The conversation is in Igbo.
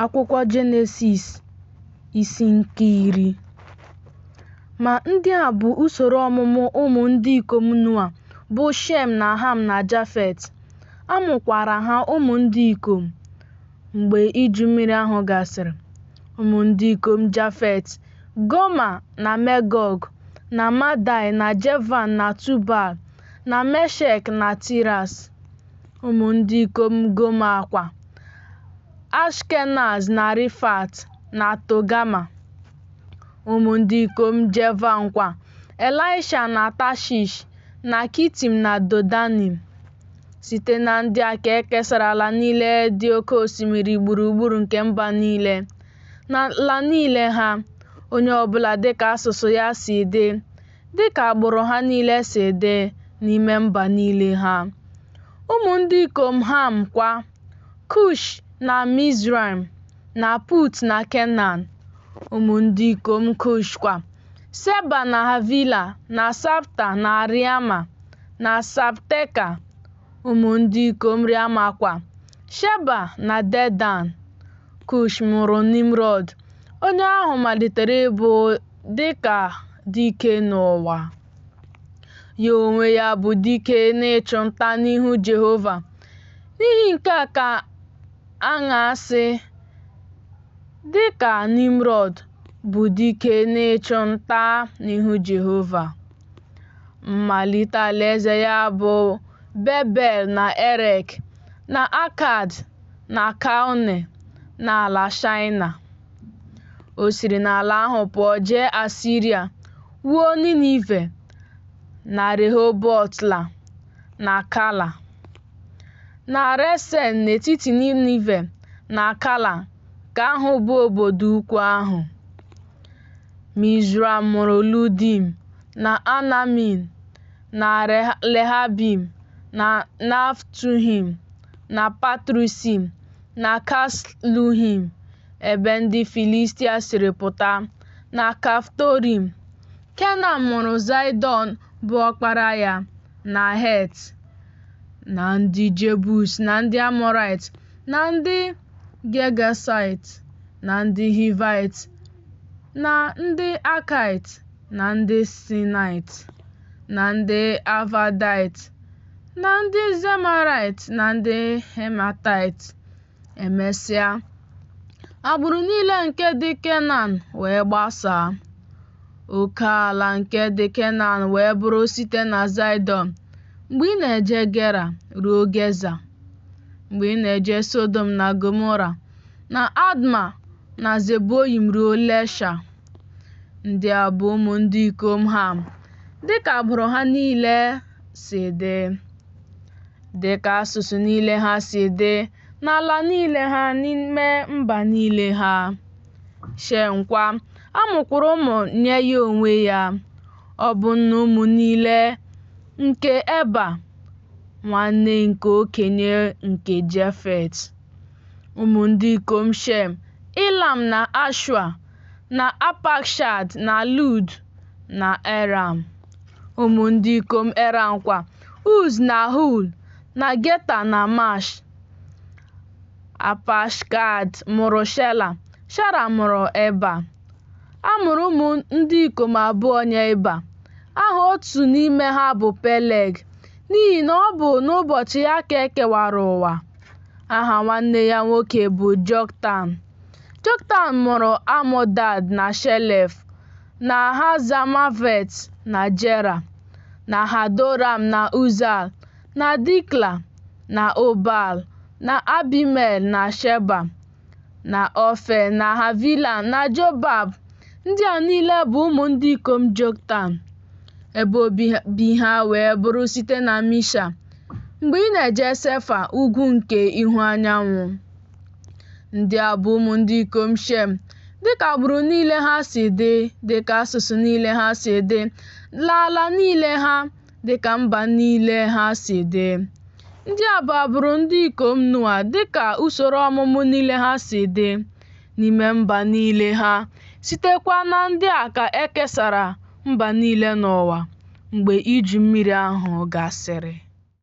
Akwụkwọ Jenesis isi nke iri. Ma ndị a bụ usoro ọmụmụ ụmụ ndị ikom Noa, bụ Shem na Ham na Jafet. A mụkwara ha ụmụ ndị ikom mgbe Iju Mmiri ahụ gasịrị. Ụmụ ndị ikom Jafet, Goma na Megọg na Madai na Jevan na Tubal na Meshek na Tiras. ụmụ ndị ikom Goma kwa, Ashkenaz na Rifat na Togama, ụmụ ndị ikom Jevan kwa, Elisha na Tashish na Kitim na Dodanim. Site na ndị a ka e kesara ala niile dị oke osimiri gburugburu nke mba niile, n'ala niile ha, onye ọbụla dịka asụsụ ya si dị. dịka agbụrụ ha niile si dị n'ime mba niile ha. Ụmụ ndị ikom Ham kwa, Kush na Mizraim na Put na Kenan. Ụmụ ndị ikom Kush kwa, Seba na Havila na Sabta na Riama na Sabteka. Ụmụ ndị ikom Riama kwa, Sheba na Dedan. Kush mụrụ Nimrọd, onye ahụ malitere ịbụ dị ka dike n'ụwa. Ya onwe ya bụ dike n'ịchụ nta n'ihu Jehova. N'ihi nke a ka a na-asị, dị ka Nimrọd bụ dike n'ịchụ nta n'ihu Jehova. Mmalite alaeze ya bụ Bebel na Erek na Akad na Kalne n'ala Shaịna. O siri n'ala ahụ pụọ jee Asiria, wuo Ninive na Rehobotla na Kala. Na Resen n'etiti Ninive na Kala nke ahụ bụ obodo ukwu ahụ. Mizraim mụrụ Ludim na Anamin na Lehabim na Naftuhim na Patrusim na Kasluhim, ebe ndị Filistia siri pụta, na Kaftorim. Kenan mụrụ Zaịdọn bụ ọkpara ya, na Het, na ndị Jebus, na ndị Amọraịt, na ndị Gegasaịt, na ndị Hivaịt, na ndị Akaịt, na ndị Sinaịt, na ndị Avadaịt, na ndị Zemarait na ndị Hematait. Emesịa, agbụrụ niile nke dị Kenan wee gbasaa. Oke ala nke dị Kenan wee bụrụ site na Zaịdọn mgbe ị na-eje Gera ruo Geza, mgbe ị na-eje Sodom na Gomora na Adma na Zeboyim ruo Lesha. Ndị a bụ ụmụ ndị ikom Ham, dịka agbụrụ ha niile si dị, dị ka asụsụ niile ha si dị, n'ala niile ha, n'ime mba niile ha. Shem kwa, a mụkwara ụmụ nye ya onwe ya. Ọ bụ nna ụmụ niile nke Eba, nwanne nke okenye nke Jefet. Ụmụ ndị ikom Shem, Ilam na Ashua, na Apakshad na Lud. na Eram, ụmụ ndị ikom Eram kwa, Uz na Hul, na Geta na Mash. Apashkad mụrụ Shela, Shela mụrụ Eba. A mụrụ ụmụ ndị ikom abụọ nye Eba. Aha otu n'ime ha bụ Peleg, n'ihi na ọ bụ n'ụbọchị ya ka e kewara ụwa. Aha nwanne ya nwoke bụ Joktan. Joktan mụrụ Amodad na Shelef. na Hazamavet na Jera, na Hadoram na Uzal, na Dikla, na Obal, na Abimel na Sheba, na Ofe, na Havila, na Jobab. Ndị a niile bụ ụmụ ndị ikom Joktan. Ebe obibi ha wee bụrụ site na Misha, mgbe ị na-eje Sefa, ugwu nke ihu anyanwụ. Ndị a bụ ụmụ ndị ikom Shem, dịka agbụrụ niile ha si dị, dịka asụsụ niile ha si dị, n'ala niile ha, dịka mba niile ha si dị. Ndị a bụ agbụrụ ndị ikom Noa dịka usoro ọmụmụ niile ha si dị, n'ime mba niile ha, sitekwa na ndị a ka e kesara mba niile n'ụwa mgbe Iju Mmiri ahụ gasịrị.